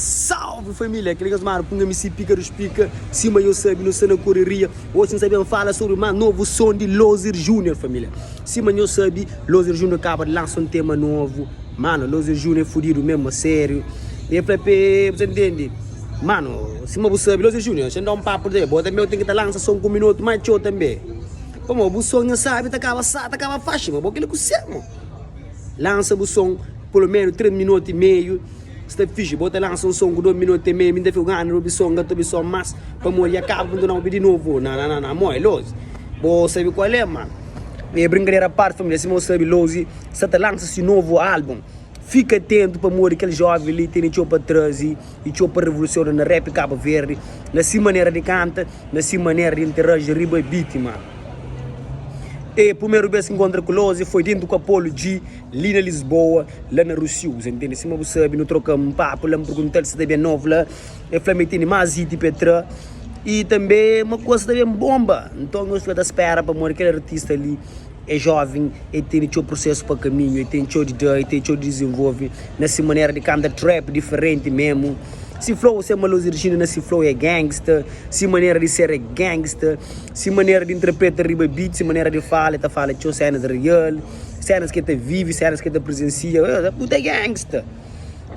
Salve família, kel kes mara punha mi si pika dos pika sima yo sabi nho sta na koreria osi nsa ben fala sobri más novo som di loser junior família sima nho sabi loser junior kaba di lansa um tema novo mano loser junior é fudido mesmo a sério e fla p'es bu ta intendi. Mano, sima bu sabi, Lose Junior, nxe da un papu dja, bo tanbe ten ki ta lansa son ku minotu más txeu tanbe. Pamó, bu son nha sabi ta kaba sa, ta kaba faxi, ma bo kila ku se mo. Lansa bu son pulomenu tres minotu y meiu, sta fixi, bo ta lansa un son ku dos minotu y meiu, mi nta fika un anu obi son, ka ta obi son más, pamó dja kaba, bu nta na obi di novo. Nananana, amoi, Lose, bo sabi kual é, mano. Bem, brinkadera a parti, família, sima bo sabi, Lose sa ta lansa si novo álbum. Fika atentu pamodi kel jovi li tene txeu pa traze y txeu pa revolusiona na rap Cabo Verde, na si manera di kanta, na si manera di interaji riba bitima. E prumeru bes ki nkontra ku Lozy foi dentu ku Apollo G li na Lisboa, la na Rusiu, sa ntende? Sima bu sabi, nu troka un papu la, N pergunta-l si ta ben novu la, el fla-m el tene más hit pa el tra y tanbe ma kuza ta ben bonba. Nton nhos fika ta spera pamodi kel artista li. É jóven, el tene txeu prusesu pa kaminhu, el ten txeu di da, el ten txeu di dizenvolve na se manera di kanta trap diferenti memu. Se flow se malosi Regina na se flow é gangsta, se manera di ser é gangsta, se manera di intrapreta riba beat, se manera di fala, el ta fala txeu sénas real, sénas ki el ta vive, sénas ki el ta prezensia, tudu é gangsta.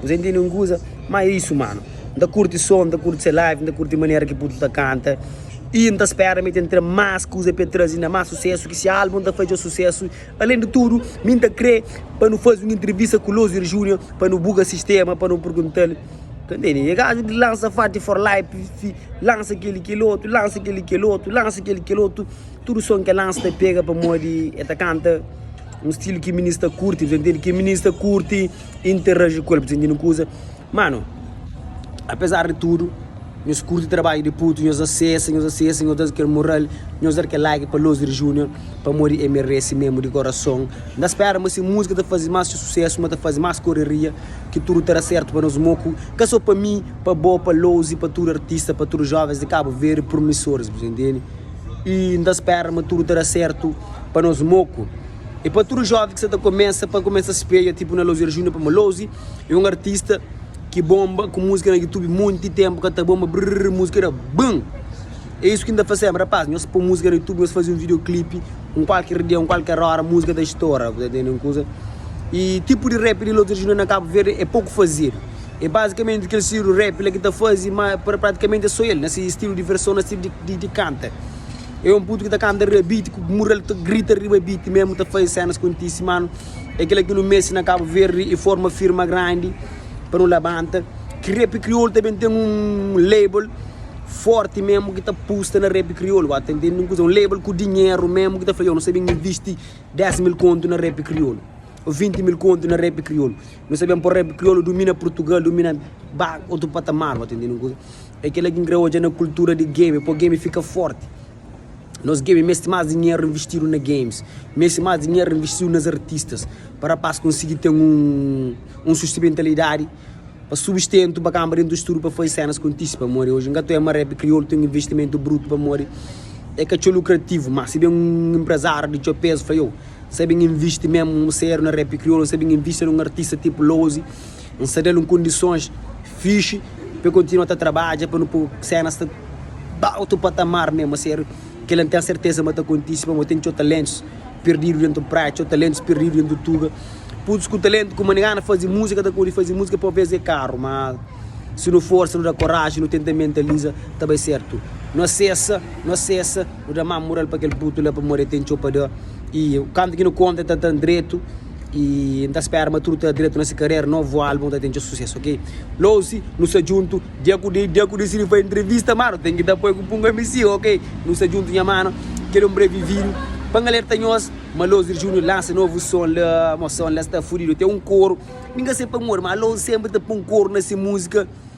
Argentino é un kuza, má é isu mano. N ta kurti son, n ta kurti se live, n ta kurti manera ki Putu ta kanta. I N ta spera ma el ta n tra más kuza pa el traze inda más susésu, ki se álbum ta fadja susésu. Alén di tudu, mi N ta krê pa nu faze un intrivista ku Lozier Júnior pa nu buga sistéma, pa nu pergunta-l, Ka ntende, é kazu di lansa Fati for Life, lansa kel-li, kel otu, lansa kel-li, kel otu, lansa kel-li, kel otu, tudu son ki el lansa ta pega pamodi el ta kanta un stilu ki minis ta kurti, dja ntende? Ki minis ta kurti. interagi ku el pa sintinu kuza mano apesar di tudu nhos kurti trabadju di putu nhos da sesa nhos da sesa nhos da kel moral nhos dar kel like pa losder junior pamodi e meresi mesmu di korason nda spera ma si musika ta fazi mas susesu ma ta fazi mas koreria ki tudu ta da sertu pa nos moku ka so pa mi pa bo pa lozy pa tudu artista pa tudu jovens di cabo verde promisores bu ta intende e nda spera ma tudu ta da sertu pa nos moku. E pa tudu joven ki sa ta kumesa pa kumesa spreia tipu na Lozier Junior pamo Lozi e un artista ki bomba ku musika na YouTube munti tempu ka ta bomba brrr musika era bun e isu ki nta faseba rapaz nhos po musika na YouTube nhos fazi un video clip un kualker dia un kualker ora musika ta stora bu ta tende un kuza e tipu di rap di Lozier Junior na Cabo Verde e poku fazidu e bazikamenti kel stilu di rap la ki ta fazi ma pratikamenti e so el na si stilu di verson na stilu di kanta. É un putu ki ta kanta riba biti ku mural ta grita riba biti memu ta faze senas kontisi manu é kila ki nu meste na cabo verde e forma firma grandi pa nu labanta ki rap kriol ta ben ten un label forti memu ki ta pusta na rap kriol ba ta intendi un kuza un label ku dinheru memu ki ta fla yo nu sta ben invisti 10 mil kontu na rap kriol o 20 mil kontu na rap kriol nu sta ben por rap kriol dumina purtugal dumina ba otu patamar ba ta intendi un kuza. É kel-la ki N kre odja na kultura di gemi, pô gemi fika fórti. Nos gemi meste más dinheru investidu na gemis, meste más dinheru investidu nes artistas pa rapás konsigi ten un sustimentalidadi pa subistentu pa kanba dentu studu pa faze sénas kontise pamodi oji N ka ta oja ma rap kriolu ten un investimentu brutu pamodi é ka txeu lukrativu. Má si ben un inprezáriu di txeu pézu fla iow, N sta ben invisti mésmu séru na rap kriolu, N sta ben invisti na un artista tipu Lozy, N sta da-l un kondisons fixi pa el kontinua ta trabadja pa nu pô sénas ta ba otu patamar mé. Má ser kel-la, N ten sertéza ma ta kontise pamodi ten txeu taléntus perdidu déntu Praia, txeu taléntus perdidu déntu Tuga, putus ku taléntu ku manigana faze múzika, ta pode faze múzika, pô bês é karu. Má si nu forsa, nu da koraji, nu tenta mentaliza, ta bai sértu. Nu asesa, nu asesa, nu da mama mural pa kel putu la pamodi el ten txeu pa da. I kantu ki nu konta, el ta ta-m dretu. E N ta spera ma tudu ta dretu na se karera Novu album ta ten txeu susesu ok Lousi nu sta djuntu Dia ku dia dia ku dia si nu fai entrevista mano ten ki ta poi ku punga mc ok Nu sta djuntu nha mano Kel hombre vivido Pa N alerta nhos ma Lousir Junior lansa novu son la Mo son la sta fudido ten un koru Mi n ka se pamodi ma Lousi senpri ta pon koru na se muzika.